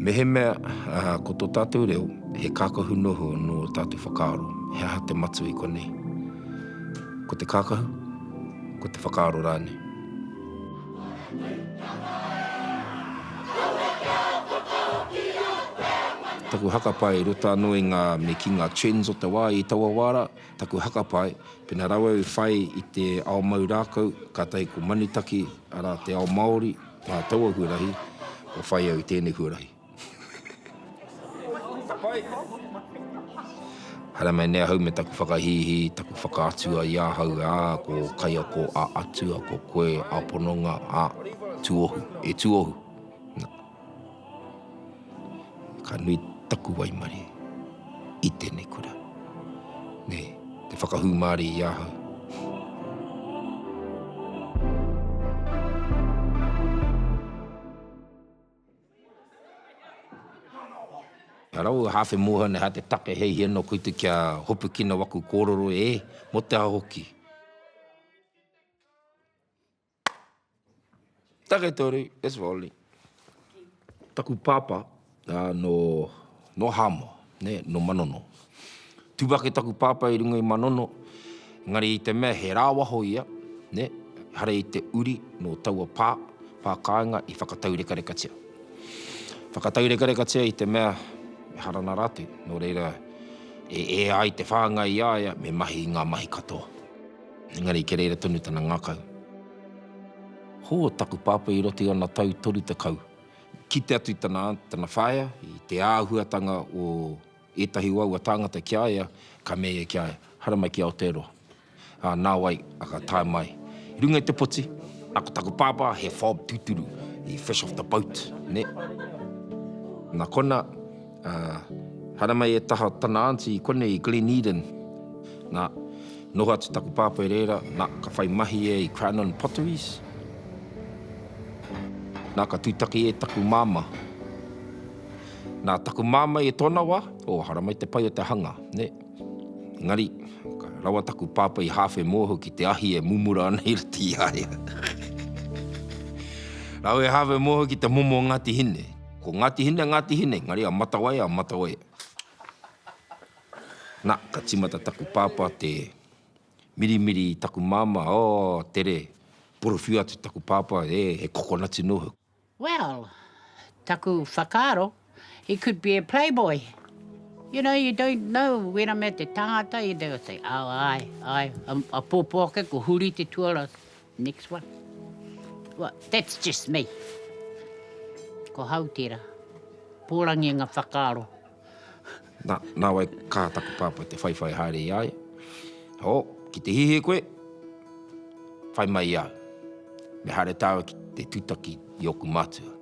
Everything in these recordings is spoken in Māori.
Mehemea ko tō tātou reo he kākahu noho nō ō tātou whakaaro, he aha te matua i konei? Ko te kākahu, ko te whakaaro rānei. Taku haka pae i roto anō i ngā me ki ngā trends o te wā i taua wā rā. Taku hakapae, pena rawe au i whai i te ao mau rākau, kātahi ko Manutaki, arā, te ao Māori, nā taua huarahi, kua whai au i tēnei huarahi. Haere mai nei ahau me taku whakahīhī, taku whakaatua i ahau, ā, ko Kaiako a Atua, ko koe a Pononga, ā, tuohu, e tuohu. Ka nui taku waimare i tēnei kura. Nei, te whakahū māre i ahau. Rau, hāwhe mōhio nei, hā te take hei hia noa koutou kia hopukina waku kōrero, ē, mō te aha hoki? Taketoru, it's Wally. Taku pāpā nō, nō Hāmoa, nē, nō Manono. Tū ake taku pāpā i runga i Manono, engari i te mea he rāwaho ia, nē, ehara i te uri nō taua pā, pā kāinga i whakataurekarekatia. Whakataurekarekatia i te mea me harana rātou, nō reira e ea ai te whāngai i a ia me mahi i ngā mahi katoa. Engari kia reira tonu tana ngakau. Ho, taku pāpā i roto i ana tau toru tekau. Kite atu tana aunt, tana whaea, i te āhuatanga o ētahi o aua tāngata ki a ia, ka mea ia ki a ia, Haere mai ki Aotearoa. Ā, nāwai, a ka tae mai. I runga i te poti, nā, ko taku pāpā, he fob tūturu, he fresh off the boat, nē. Nā konā. Ā, haramai e taha tana aunty i konei i Glen Eden. Nā, noho atu taku pāpā i reira, nā, ka whai mahi ia i Cranon Potteries. Nā, ka tūtaki e taku māmā. Nā, taku māmā i tōna wā, ō, haramai te pai o te hanga, nē. Engari, ka rawa taku pāpā i hāwhe mōhio ki te ahi e mumura ana i roto i a ia. Rāua e hāwhe mōhio ki te momo o Ngāti Hine. Ko Ngāti Hine, Ngāti Hine, engari a Matawai, a Matawai. Na, ka timata taku pāpā te mirimiri i taku māmā, oh, tere, porowhiu atu taku pāpā, e, he kokonati nō hoki. Well, taku whakaaro, he could be a playboy. You know, you don't know, wera mea te tāngata, they will say, oh, āe, āe, a pōpō ake, ko Huri te tuara, Next one. Well, that's just me. Ko hau tera. Porangi nga whakaaro. Na, na wai ka taku papa te whaiwhai haere i a ia. Oh, ki te hihi koe, whai mai i au. Me haere taua ki te tutaki i oku matua.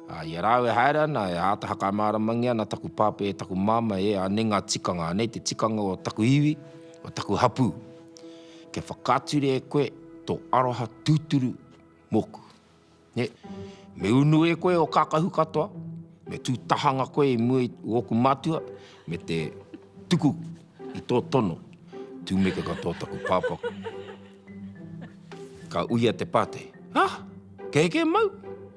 A, i a rāu e haere ana, e āta hakamāramangia ana taku papa e taku mama e anei nga tikanga, anei te tikanga o taku iwi, o taku hapū. Kia whakature e koe tō aroha tūturu mōku. Nē, me unu e koe o kākahu katoa, me tū tahanga koe i mua i ōku mātua, me te tuku i tō tono, tūmeke katoa taku pāpā. Ka uia te pātei, Ha! Kei kē mau?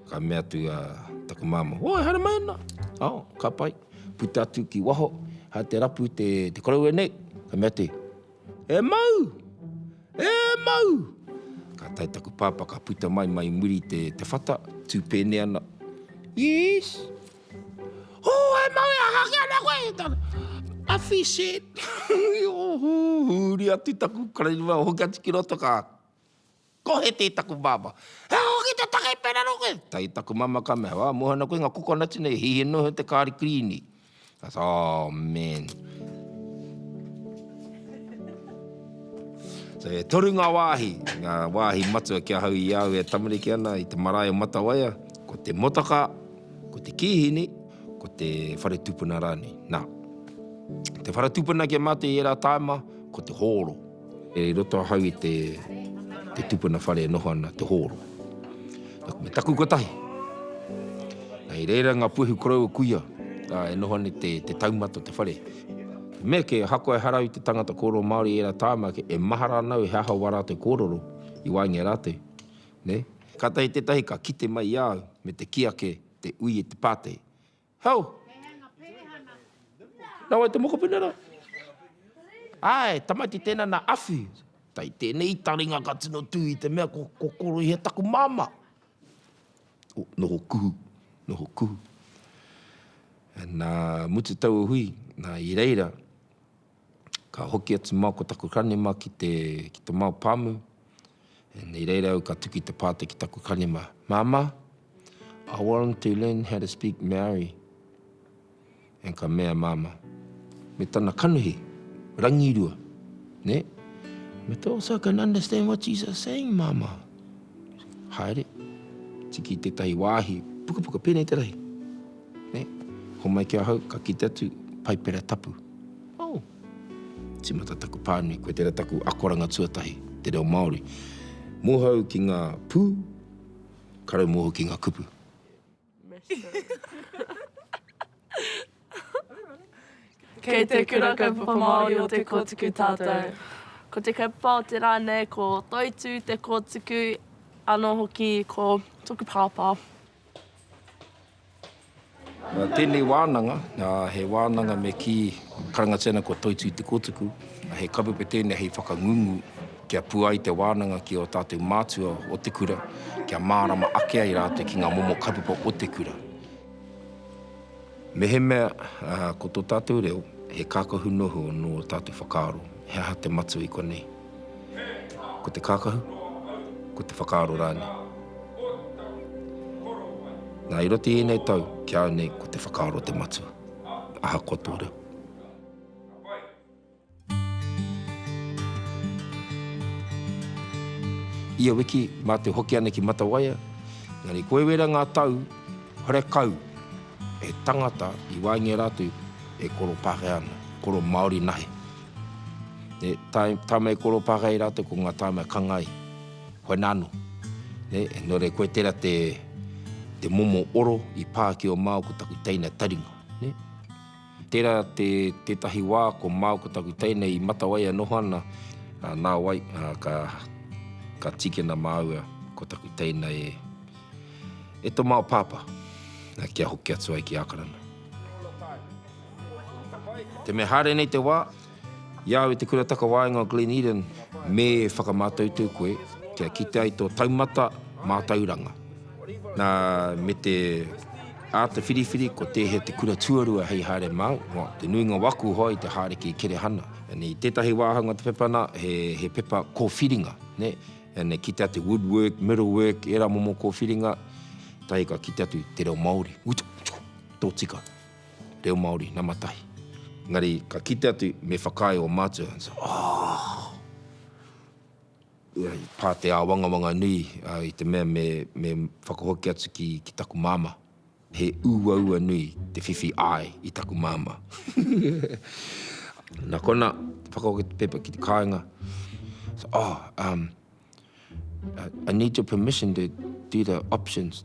Ka mea atu a taku māmā, Oi, haere mai ana! Oh, ka pai. Puta atu ki waho, hai te rapu te koroua nei, ka mea te. E mau! E mau! Ka tae taku pāpā ka puta mai mai i muri te te whata, tū pēne ana. Yes! Oh, e mau e aha ki ana koe? He tana, a fish head! Hūri atu taku karangiwa, hoki atu ki roto ka. Ko Hete taku bāba. He aha hoki te take i pērā rā koe? Tae taku mama ka mea, Ā, moe ana koe i ngā kokonati nei, hihi noho i te kāri kirīni. Ka tā, Oh, man. So, e toru ngā wāhi, ngā wāhi matua ki ahau i au e tamariki ana i te marae o Matawaia, ko te motaka, ko te kīhini, ko te whare tupuna rānei. Nā, te whare tupuna ki a mātou i ērā tāima, ko te hōro. I roto ahau i te tupuna whare e noho ana te hōro. Nōku me taku kotahi. I reira ngā puehu koroua kuia e noho ana i te taumata o te whare. He mea kē, ahakoa ehara au i te tangata kōrero Māori i ērā tāma ake, e mahara ana au he aha wā rātou kōrero i waenga i a rātou, nē. Kātahi tētahi ka kite mai i a au me te kī ake, te ui i te pātai, Hau! Nā wai te mokopuna rā? Āe, tamaiti tēnā nā Awhi. Kei tēnei taringa ka tino tū i te mea ko Kokoroihe taku māmā. O, noho kuhu, noho kuhu. Nā mutu taua hui, nā i reira, Ka hoki atu māu ko taku ranima ki te, ki te māu pāmu. Nei reira au ka tuki te pātai ki taku ranima, Māmā, I want to learn how to speak Māori. And ka mea māmā, me tana kanuhi, rangirua, nē? Me te, oh, so I can understand what you are saying, māmā. Haere, tiki tētahi wāhi, pukapuka, pēnei te rahi. Nē, homai ki ahau, ka kite atu, Paipera tapu. Oh! Tīmata taku pānui, koe tērā taku akoranga tuatahi, te reo Māori. Mōhau ki ngā pū, ka raumōhau ki ngā kupu. Kei te Kura Kaupapa Māori o Te Kōtuku tātou. Ko te kaupapa o te rā nei ko Toitū Te Kōtuku, anō hoki ko Toku Pāpā. Nā tēnei wānanga, he wānanga me kī karangatiana ko Toitū Te Kotuku, he kawepe tēnei hei whakangungu kia pua ai te wānanga ki ō tātou mātua o te kura, kia mārama ake ai rātou ki ngā momo kaupapa o te kura. Mehemea ko tō tātou reo he kākahu noho nō ō tātou whakaaro, he aha te matua i konei? Ko te kākahu? Ko te whakaaro rānei? Nā, i roto i ēnei tau, ki au nei, ko te whakaaro te matua, ahakoa tō reo. Ia wiki, mā te hoki ana ki Matawaia, engari kua wera ngā tau whare kau e tangata i waengia rā atu e koro Pākehā ana, koro Māori nahe. E tāmei koro Pākehā i rātou ko ngā tāmei kanga i whaina anō. Nō reira koe tērā te momo oro i pā ki o Māo ko taku teina taringa. Tērā te, tētahi wā ko māu ko taku teine i matawai e noho ana, ā, nā wai, ā, ka, ka tīkina māua ko taku teina e, e tō māu pāpā, ā, kia hoki atu ai ki Ākarana. Te mea haere nei te wā. I a au i te Kura Takawaenga o Glen Eden me whakamātautau koe kia kite ai tō taumata mātauranga. Nā, me te āta whiriwhiri kua tēhea te kura tuarua hei haere māu, nō te nuinga o aku hoa i te hāriki i Kerehana. And i tētahi wāhanga o te pepa nā, he, he pepa kōwhiringa, nē, and e kite atu woodwork, metalwork, ērā momo kōwhiringa, tahi ka kite atu te reo Māori, utu, tōtika. reo Māori, nama tahi. Engari ka kite atu me whakaae o mātua, and said, Oh! I pā te āwangawanga nui i te mea me me whakahoki atu ki ki taku māmā. He uaua nui te whiwhi āe i taku māmā. Nā konā, whakahoki te pepa ki te kāinga, said, Oh, um, I need your permission to do the options.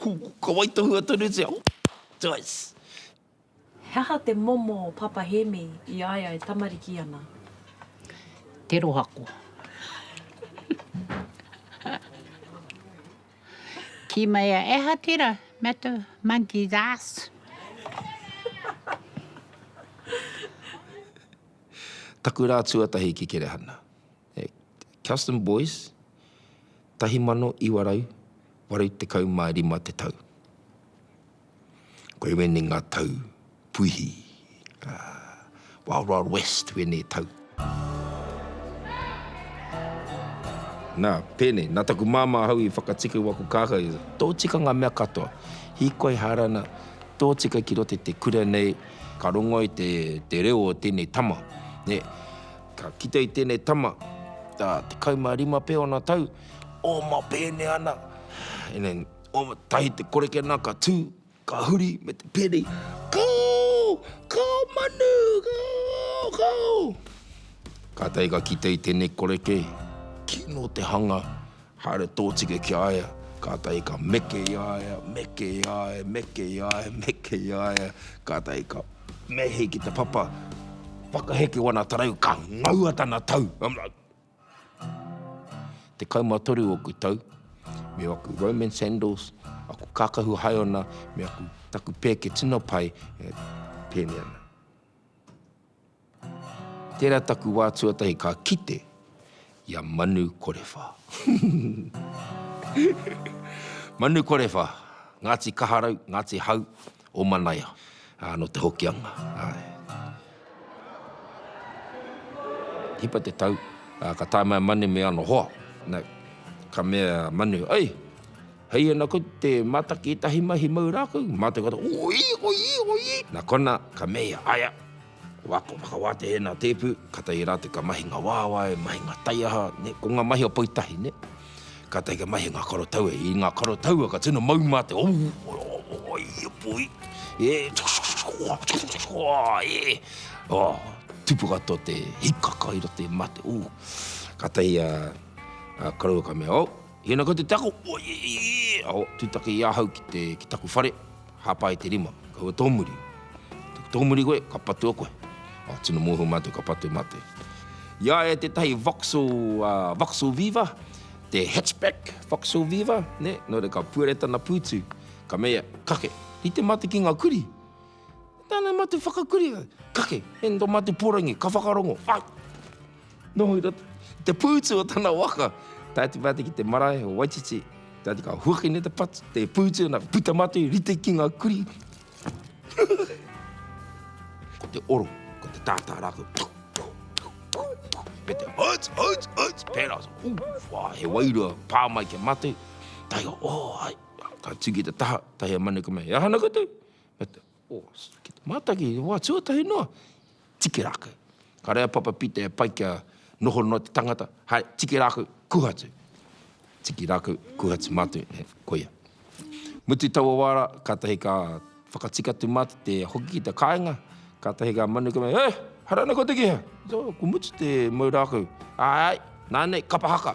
Ko ka waitohua tonutia twice. He aha te momo o Papa Hemi i a ia e tamariki ana? Te rohako. Ki mai a Eha tera matu monkey's ass. Taku ra tuatahi ki Kerehana. He Custom Boys, 1985 te tau. Koe wēnei ngā tau puihi, Wild Wild West wēnei tau. Nā, pēnei, nā taku māmā ahau i whakatika i waku kākā i te tōtika ngā mea katoa. Hīkoi Hārana, tōtika ki roto i te kura nei, ka rongo i te reo o tēnei tama. Ka kite i tēnei tama, ā, tekau mā rima pea ōna tau, oma pēne ana. And then, oma tahi te koreke nā, ka tū, ka huri me te pēne, Kau! Kau manu! Kau! Kau! Kātahi ka kite i tēnei koreke, kino te hanga, Haere tōtika ki a ia, kātahi ka meke i a ia, meke i a ia, meke i a ia, meke i a ia, kātahi ka mehe ki te papa, whakaheke wana tarau, ka ngaua tana tau. I'm like, Tekau ma toru oku tau, me aku Roman sandals, aku kākahu haeona, me aku, taku pēke tino pai e pēne ana. Tera taku wa tuatahi ka kite i a Manu Korewha. Manu Korewha, Ngati Kaharau, Ngati Hau, o Manaia, no Te Hokianga. Hipa te tau, ka tae mai a Manu me ano hoa. Ka mea a Manu, Ei! Hei ana ko te mataki tahi mahi mau rākau, mā te katoa, Oī, oī, oī! Nā konā, ka mea ia, Aea! Wā, kua whakawātehe nā tēpu, kātahi rā te ka mahi ngā wāwae, mahi ngā taiaha, nē, ko ngā mahi o pou tahi, nē. Kātahi ka mahi ngā karo taua, i ngā karo taua ka tino mau mā te, Oū, oī, oī! E, e! Ā, tupu katoa te hikaka i roto i mate, ū! Kātahi a, a koroua ka mea, Ō! Ina ko te tako, oieieieeao, tutake i ahau ki te, ki taku whare, hapa ai te rima, kaua tōmuri. Te tōmuri koe, ka patua koe. Oh, tino mōhio mātou ka patua mātou. I a ia tētahi Vauxhall, uh, Vauxhall Viva, te hatchback Vauxhall Viva, ne, nō reira ka puere tana pūtu, ka mea, kake, rite mātou ki ngā kuri. Ko tāna matu whakakuri, kake, he nō matu porangi, ka whakarongo, ai! Noho i roto, i te pūtu o tana waka, tae atu pātai ki te marae o Waititi, tae atu ka huaki nei te patu, te pūtu ana, ka puta mātou i rite ki ngā kuri. Ko te oro, ko te tātā rākau, me te huts, huts, huts, pērā, ū, whā, he wairua, pā mai ki a mātou, tae au, ō, ai, ka tū ki te taha, tae a Manukame, he aha ana koutou? Oh, mātaki, wā, tuatahi noa, tiki rākau. Ka rei a Papa Pita e pai kia noho noa te tangata, hai, tiki rākau, kuha atu. Tiki rākau, kuha atu mātou, he, koia. Mutu taua wā rā, kātahi ka whakatika atu mātou te hoki ki te kāinga, kātahi ngā manu ka mea, He, haere ana koutou ki hea? Ko Mutu te mau rākau. Āe, āe, nānei, kapa haka.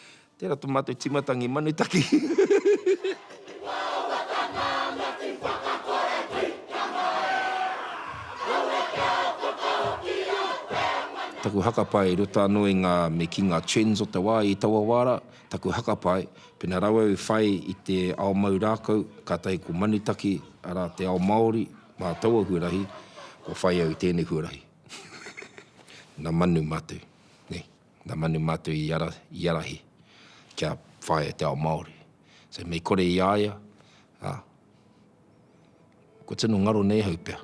Tera to matou timatangi manu taki. Taku hakapa e ruta ano i nga me ki nga trends o te wa i taua wa ra, taku hakapa ai, pena rawe au i whai i te ao mau rakau, katahi ko manu taki, ara te ao maori, ma taua huarahi, kua whai au i tenei huarahi. Na manu matou. Nei. nga manu matou i ara, i arahi kia whaia te ao Maori. So mei kore i a ia, a, kua tino ngaro nei ahau pea,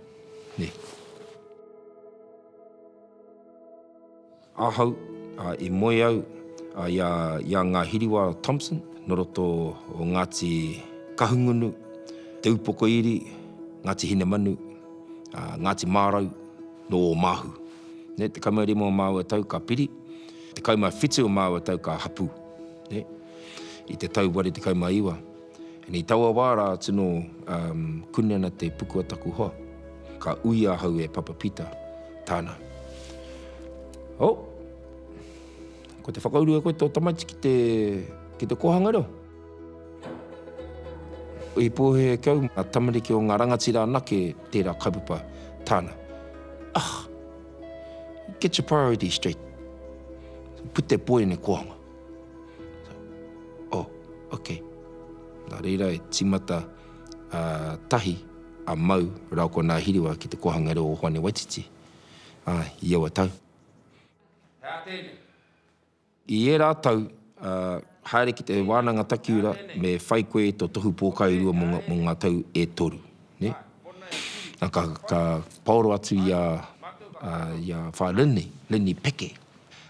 ne. Ahau, a, i moe au, a, i a, i a nga Hiriwa Thompson, no roto o Ngati Kahungunu, Te Upoko Iri, Ngati Hinemanu, a, Ngati Marau, no Omahu. ne, tekau mā rima o māua tau ka piri, tekau mā whitu o māua tau ka hapū, ne, i te tau ware tekau mā iwa. And i taua wā rā atu nō, um, kuni ana te puku a taku hoa. Ka ui ahau e Papa Pita, tāna. Oh! Ko te whakaurua koe tō tamaiti ki te, ki te kōhanga reo? I pōhēhē kau ngā tamariki o ngā rangatira anake tērā kaupapa tāna. Ugh! Get your priorities straight. Put that boy in a kōhanga. Oh, ok. Nā reira e tīmata a Tahi, a Mau rāua ko Nā Hiriwa ki te kōhanga reo o Hoani Waititi i aua tau. Hea tēnei. I ērā tau, haere ki te Wānanga Takiura me whai koe i tō tohu pōkairua mō ngā tau e toru. Ka paoro atu i a Whaea Lini, Lini Peke,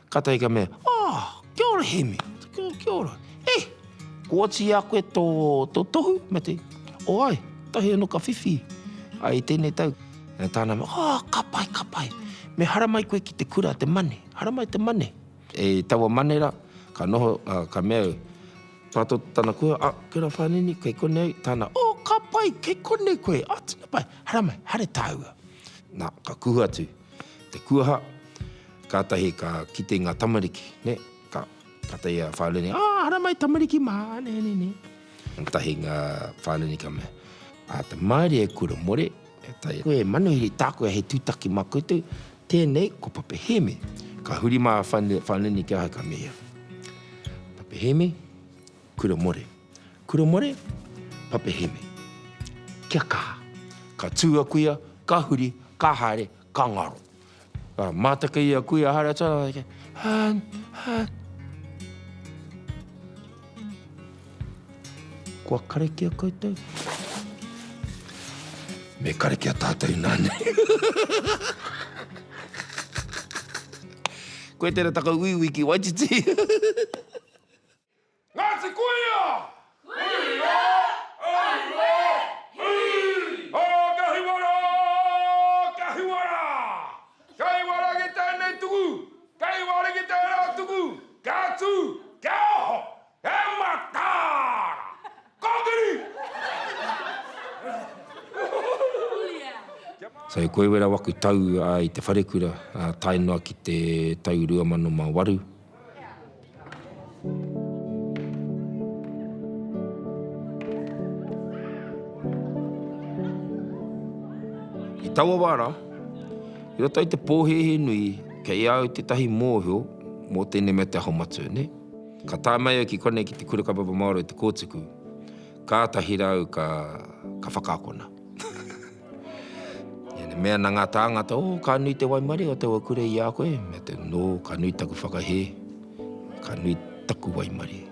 kātahi ka mea, Oh, kia ora Hemi! Kia ora. Eh, ko atu i a koe tō tohu? Me te, Oh, ai, tahi anō ka whiwhi i tēnei tau. Tāna mea, Oh, ka pai, ka pai. Me hara mai koe ki te kura, te mane. Haramai te mane. I taua mane ra, ka noho, ka mea au, Tato tana kuia, Ah, Kura Fanini, kei konei tana, Oh, ka pai, kei konei koe, ah, tena pai, haramai, hare taua. Na, ka kuhu atu te kuaha, katahi ka kite nga tamariki, ne, ka, katahi a Fanini, Ah, haramai tamariki ma, ne, ne, ne. Katahi nga Fanini ka mea, Ah, te maire e kura more, koe e manuhiri, taku e he tutaki ma koutou, Tēnei ko Pape Hēmi. Ka huri mā a Whanini ki ahau ka mea, Pape Hēmi, kura more. Kura more, Pape Hēmi. Kia kaha. Ka tū a kuia, ka huri, ka haere, ka ngaro. Ka mātaki a kuia haere atu, Hān, hān. Kua karekia koutou? Me karekia tātou nā nei. Koe tērā taku uiui ki Waititi. Ngāti Kuia! Kuia! Aue! Hui! Ā, ka hiwa rā! Ka hiwa rā! Kei waragi tēnei tuku, kei waragi tērā tuku, kia tū, kia oho, he mataara! Kōkiri! So i Koiwera waku tau i te wharekura tae noa ki te tau 2008. I taua wā rā, i roto i te pōhēhē nui, kei a au tētahi mōhio mō tēnei mea te Aho Matua, nē. Ka tae mai au ki konei ki te Kura Kaupapa Māori o Te Kōtuku, kātahi rāu ka whakaakona. Ēnei mea na ngā tāngata, oh, ka nui te waimarie o taua kura i a koe, me te, no, ka nui taku whakahē, ka nui taku waimarie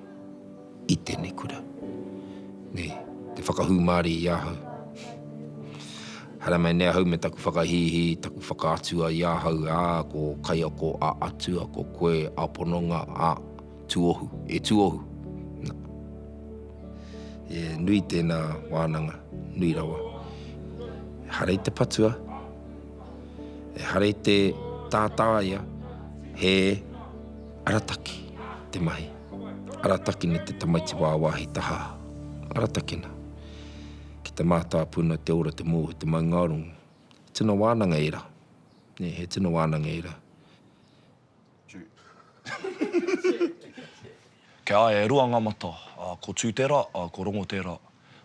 i tēnei kura. Nei, te whakahūmārie i ahau. Haere mai nei ahau me taku whakahīhī, taku whakaatua i ahau, ā, ko kaiako a Atua, ko koe a pononga, ā, Tuohu, e Tuohu. Na. E nui tēnā wānanga, nui rawa. E hara i te patua, e hara i te tātāia, he arataki te mahi. Aratakina te tamaiti wāwāhi tahā. Aratakina. Ki te mātāpuna, te ora, te mōhio, te maungārongo. Tino wānanga ērā. He tino wānanga ērā. Kei a ia e rua ngā mata, ā, ko Tū tērā, ā, ko Rongo tērā.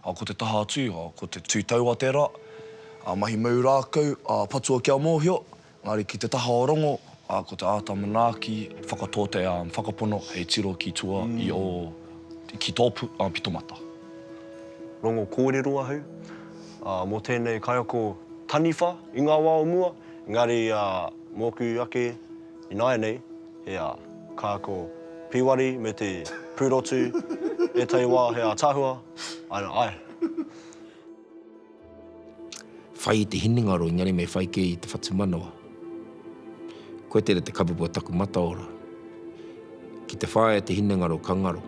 Ā, ko te taha atu, ā, ko te tū taua tērā. Ā, mahi mau rākau, ā, patua kia mōhio, engari ki te taha o Rongo, ā, ko te āta manaaki, whakatōte, ā, whakapono hei tiro ki tua i ō, ki tō pu, ā, pito mata. Rongo kōrero ahau, ā, mō tēnei kaiako taniwha i ngā wā o mua, engari, ā, Mōku ake ināianei, he ā, kā ko Pīwari me te pūrotu, ētahi wā he ātaahua, ā, ā. Whai i te hinengaro engari me whai kē i te whatumanawa. Koe tērā te kapupu o taku mataora. Ki te whāia te hinengaro ka ngaro,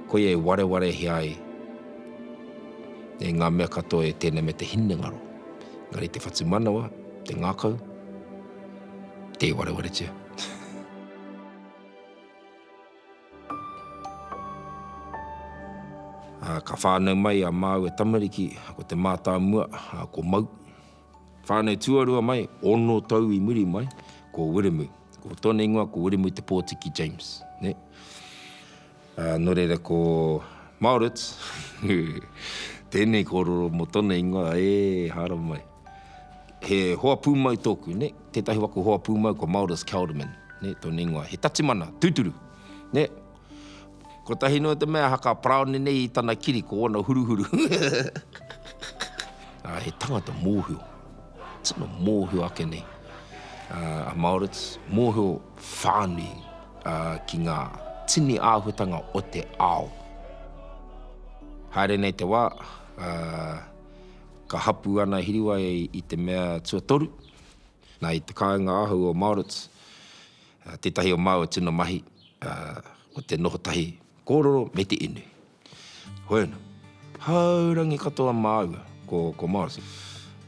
koia e warewarehia ai e ngā mea katoa e tēnei me te hinengaro, engari te whatumanawa, te ngākau, Te warewaretia. Ah, ka whānau mai a Māu e tamariki, ko te mātāmua, ah, ko Mau. Whānau tuarua mai, ono tau i muri mai, ko Wiremu. Ko tōna ingoa ko Wiremu Te Pōtiki James, nē. Ā, nō reira ko Maurits, ū, tēnei kōrero mō tōna ingoa, ē, haramai. He hoa pūmau tōku, nē, tētahi waka hoa pūmau ko Maurits Kelderman, nē, tōna ingoa. He tatimana, tūturu, nē. Kotahi noa te mea aha ka paraone nei i tana kiri ko ōna huruhuru. Ā, he tangata mōhio, tino mōhio ake nei, ā, a Maurits, mōhio whānui ki ngā tini āhuatanga o te ao. Haere nei te wā, ka hapū ana Hiriwai i te mea tuatoru, nā, i te kāinga ahau o Māoritz, tētahi o māua tino mahi ko te noho tahi kōrero me te inu. Hoena, Haurangi katoa māua, ko, ko Morrison.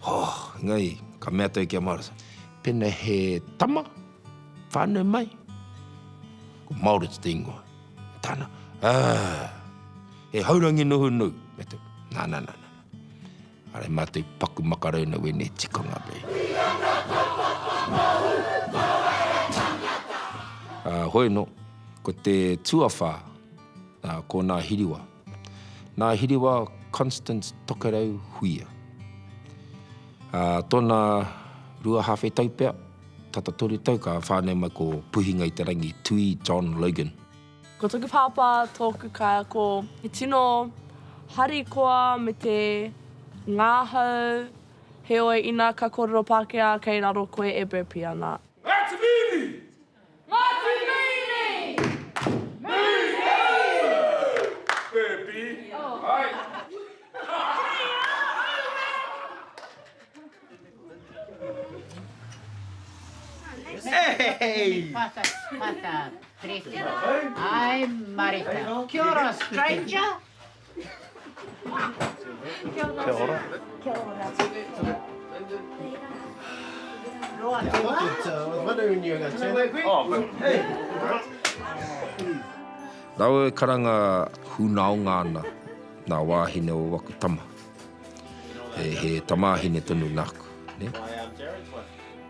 Hoo, engari, ka mea toi ki a Morrison. Pena he tama, whānau mai? Ko Morris te ingoa. Tana, Aa! He haurangi nuhunu! Mea toi, Na, na, na, na, na. Are ma te paku makarauna wenei tikanga nei. Ki nga kaupapa whakamahu Poara Tangata. A hoi no, ko te tuawha, a ko Na Hiriwa. Na Hiriwa Constance Tokerau Huia. A tona rua hawhe tau pea, tata toru tau ka whanau mai ko Puhinga i te Rangi Tui John Logan. Ko toku pāpā tōku kaiako, he tino harikoa me te ngāhau, heoi ina ka kōrero Pākehā kei raro koe e burpee ana. Ngati Miini! Ngati Miini! Miini! Burpee! Hai! Rawe karanga hunaonga ana nga wahine o waku tama. he tamāhine tonu nāku. Ne?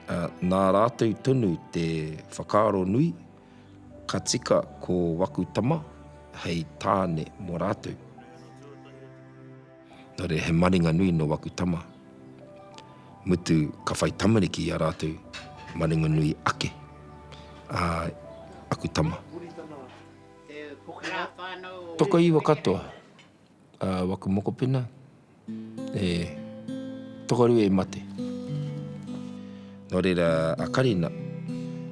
Uh, nā rātou tonu te whakaaro nui, ka tika ko waku tama hei tāne mō rātou. Nō re, he maringa nui no waku tama. Mutu ka whai tamariki i a rātou, maringa nui ake. Uh, aku tama. Toka iwa katoa. A waku mokopena e tokoru e mate. No reira a Karina,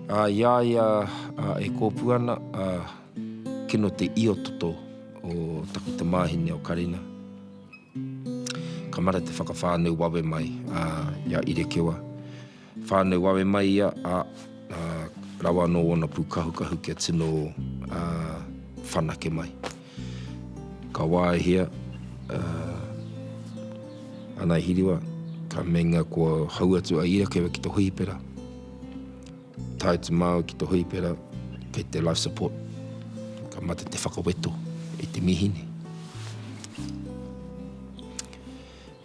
a i a ia a e kopu ana a kino te io toto o taku tamahine o Karina. Ka mara te whakawhanau wawe mai a ia Irekewa. Whānau wawe mai ia, ā, rawa anō ōna pūkahukahu kia tino whanake mai. Ka waehia a Ngāi Hiriwa, ka meinga kua hou atu a Irakewa ki te hōhipera, tae atu māu ki te hōhipera kei te life support, ka mate te whakaweto i te mīhini.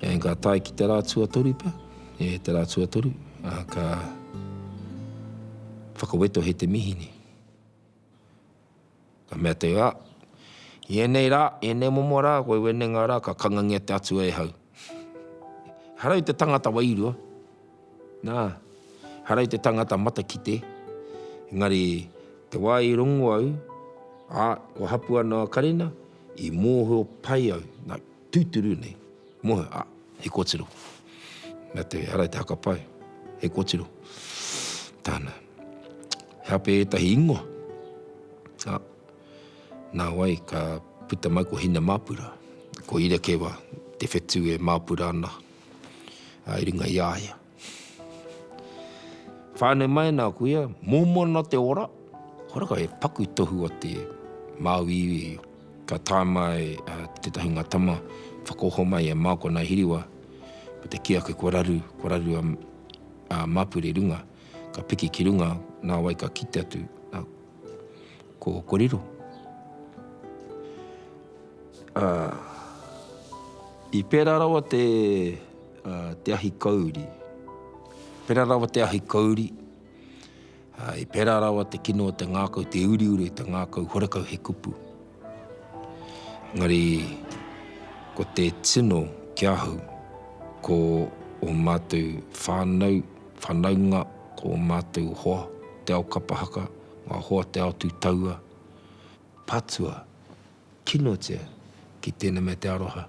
And ka tae ki te rā tuatoru pea, e te rā tuatoru, ā, ka whakawetohe te mihi nei. Ka mea te rā, i ēnei rā, ēnei momo rā, koe wenenga rā, ka kangangia te Atua e hau. Harau te tangata wairua, nā, harau te tangata matakite, engari te wā i rongo au, ā, kua hapua noa karena, i mōhio pai au, nā, Tūturu nei. Moe, a, he kotiro. Mea te ara i te haka pae, he kotiro. Tāna. He ape ētahi ingoa? A, nā wai ka puta mai ko Hina Māpura, ko Irekewa te whetū e māpura ana i runga i a ia. Whānau mai nā kuia, mōmona te ora. Kore kau he paku tohu o te Māui iwi. Ka tae mai tētahi ngā tama whakaoho mai i a Māoko nā Hiriwa me te kī ake kua raru, kua raru a Māpure runga. Ka piki ki runga, nā wai ka kite atu ko Riro. I pērā rawa te. te ahi kauri. Pera rawa te ahi kauri, i pera rawa te kino o te ngakau, te uriuri o te ngakau, horekau he kupu. Engari, ko te tino ki ahau, ko o matou whanau, whanaunga, ko o matou hoa te ao kapa haka, nga hoa te ao tu taua, patua, kinotia ki tena me te aroha.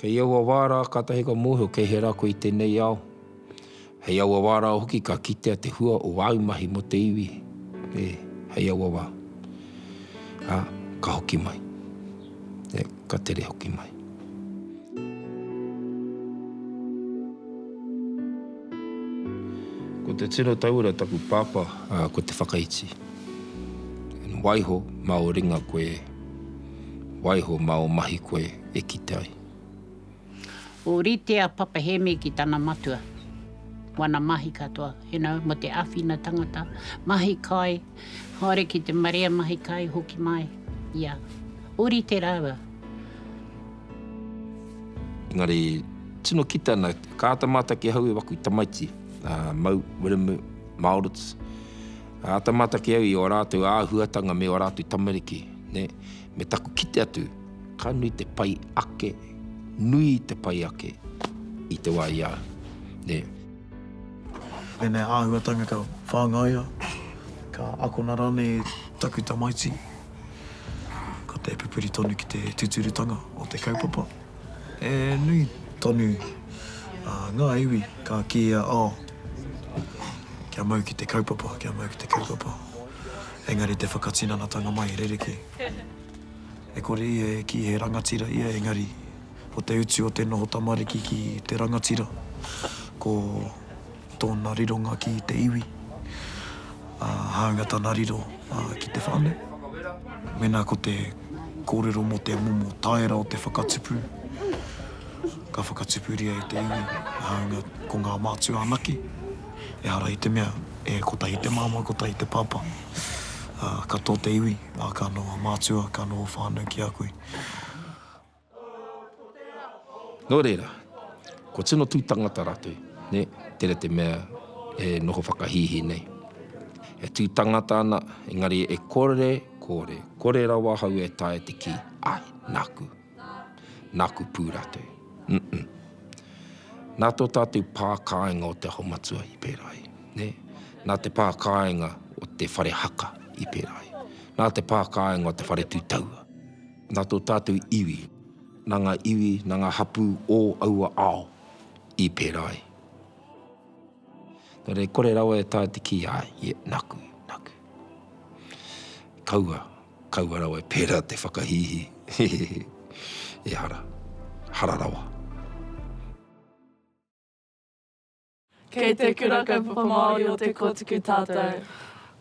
Kei aua wā rā kātahi ka mōhio kei he rā koe i tēnei ao. Hei aua wā rā hoki ka kitea te hua o āu mahi mō te iwi. E, hei aua wā. Ā, ka hoki mai. E, ka tere hoki mai. Ko te tino tauira taku pāpā, ā, ko Te Whakaiti. Waiho, mā o ringa koe. Waiho ma o mahi koe e kite ai. Orite a Papa Hemi ki tana matua, wana mahi katoa, you know, mo te awhina tangata, mahi kai, haere ki te marea mahi kai hoki mai, ia. Orite raua. Engari, tino kite ana, ka ata mātaki ahau e waku tamaiti, a Mau, Wiremu, Maurits, Āta mātaki au i ō rātou āhuatanga me ō rātou tamariki, nē, me taku kite atu, ka nui te pai ake, nui te pai ake i te wā i a au, nē. Tēnei āhuatanga ka whāngaia, ka akona rānei e taku tamaiti, ko te pupuri tonu ki te tūturutanga o te kaupapa. He nui tonu ngā iwi ka kīia, oh, kia mau ki te kaupapa, kia mau ki te kaupapa. Engari te whakatinanatanga mai rerekē. E kore ia e kī he rangatira ia, engari ko te utu o te noho tamariki ki te rangatira, ko. Tōna rironga ki te iwi, ā, hāunga tana riro ki te whānau. Mēnā ko te kōrero mō te momo taera o te whakatupu, ka whakatupuria e te iwi, hāunga ko ngā mātua anake, ehara i te mea e kotahi te māmā, kotahi te pāpā, ā, ka tō te iwi, ā, ka noho mātua, ka noho whānau ki a koe. Nō reira, ko tino tū tangata rātou, nē, tērā te mea e noho whakahīhī nei. E tū tangata ana, engari e kore, kore, kore rawa ahau e taea te kī, āe, nāku. Nāku pū rātou. Umm-umm. Nā tō tātou pā kāinga o te Aho Matua i pērā ai, nē, nā te pā kāinga o te whare haka i pērā ai, nā te pā kāinga o te whare tū taua. Nā tō tātou iwi, nā ngā iwi, nā ngā hapū ō aua ao i pērā ai. Nō reira, kore rawa e taea te kī, āe, ie, nāku, nāku. Kaua, kaua rawa e pērā te whakahīhī. Hehehe. Ehara. Hara rawa. Kei te Kura Kaupapa Māori o Te Kōtuku tātou.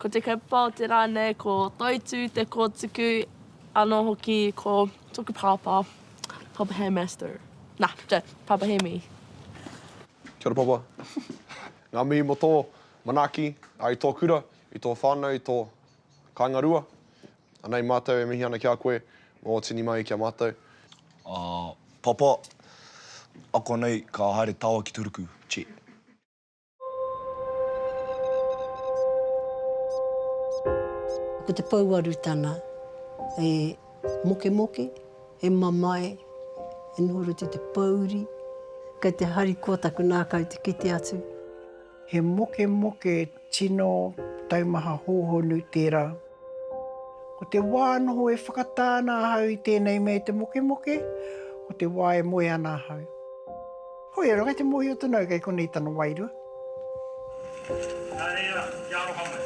Ko te kaupapa o te rā nei ko Toitū Te Kōtuku, anō hoki ko tōku pāpā, Pāpā Hei Master. Nā, nē, Pāpā Hemi. Kia ora Pāpā. Ngā mihi mō tō manaaki i tō kura, i tō whānau, i tō kāinga rua. Anei matou e mihi ana ki a koe, mo o tini mai ki a matou. A, Papa, ako nei ka haere tawa ki to ruku, Chet. Ko te pouaru tana, e mokemoke, e mamae, e noho rite te pouri, kei te harikoa taku nākau te kite atu. He mokemoke tino taumaha hōhonu tērā. Ko te wā noho e whakatā ana ahau i tēnei mea i te mokemoke, ko te wā e moe ana ahau. Hoi ara, kei te mōhio tonu au kei konei tana wairua. Nā reira, kia aroha mai.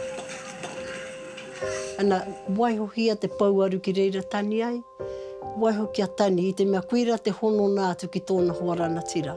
Ana, waiho ki ia te pouaru ki reira tani ai, waiho kia tani, i te mea koira te honona atu ki tōna hoa rangatira.